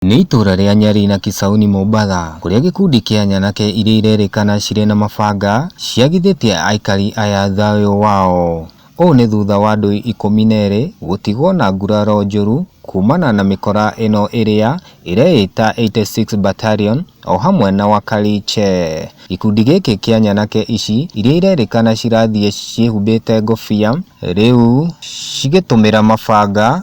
Nĩ itũra rĩa Nyari na Kisauni Mombatha kũrĩa gĩkundi kĩa nyanake iria irerĩkana cirĩ na mabanga ciagithĩtie aikari aya thayũ wao. Ũũ nĩ thutha wa andũ ikũmi na erĩ gũtigwo na nguraro njũru kumana na mĩkora ĩno ĩrĩa ĩreĩta 86 Battalion o hamwe na Wakariche. Gĩkundi gĩkĩ kĩa nyanake ici iria irerĩkana cirathiĩ ciĩhumbĩte ngũbia rĩu cigĩtũmĩra mabanga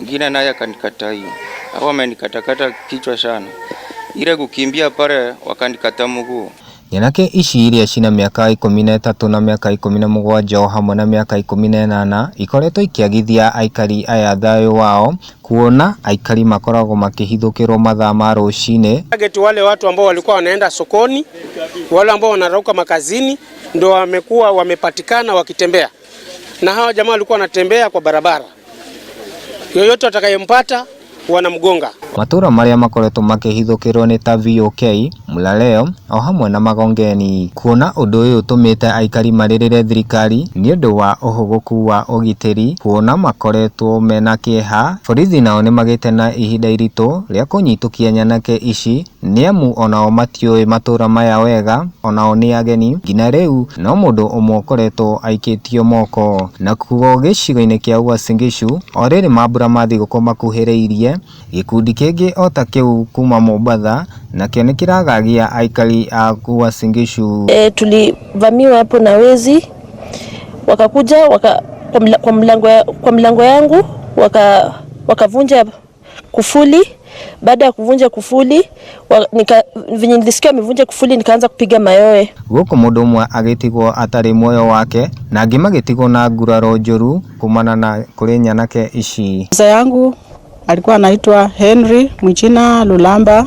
mwingine naye akanikata hiyo. Hao wamenikatakata kichwa sana, ile kukimbia pale wakanikata mguu. Nyanake ici iria cina mĩaka ikũmi na ĩtatũ na mĩaka ikũmi na mũgwanja o hamwe na mĩaka ikũmi na ĩnana ikoretwo ikĩagithia aikari aya thayũ wao kuona aikari makoragwo makĩhithũkĩrwo mathaa ma rũcinĩ Target wale watu ambao walikuwa wanaenda sokoni, wale ambao wanarauka makazini, ndo wamekuwa wamepatikana wakitembea. na hawa jamaa walikuwa wanatembea kwa barabara, yoyote atakayempata wanamgonga. Matũũra marĩa makoretwo makĩhithũkĩrwo nĩ ta VOK, Mlaleo o hamwe na Magongeni. Kuona ũndũ ũyũ ũtũmĩte aikari marĩrĩre thirikari nĩ ũndũ wa ũhũgũku wa ũgitĩri kuona makoretwo mena kĩeha. Borithi nao nĩ magĩte na ihinda iritũ rĩa kũnyitũkia nyanake ici Nĩamu o nao matiũĩ matũũra maya wega, o nao nĩ ageni, nginya rĩu, no mũndũ ũmwe ũkoretwo aikĩtio moko. Nakuo gĩcigo-inĩ kĩa Uasin Gishu, o rĩrĩ mambura ma thigũkũ makuhĩrĩirie, gĩkundi kĩngĩ o ta kĩu kuuma Mombatha, nakĩo nĩ kĩragagia aikari a Uasin Gishu. E, tulivamiwa hapo na wezi wakakuja waka, kwa, mla, kwa, mlango, kwa mlango yangu waka, wakavunja kufuli. Baada ya kuvunja kufuli wa, nika, venye nilisikia amevunja kufuli nikaanza kupiga mayowe. gũkũ mũndũ ũmwe agĩtigwo atarĩ muoyo wake na angĩ magĩtigwo na nguraro njũru kumana na kũrĩ nyanake ici Mzee yangu alikuwa anaitwa Henry Mwichina Lulamba.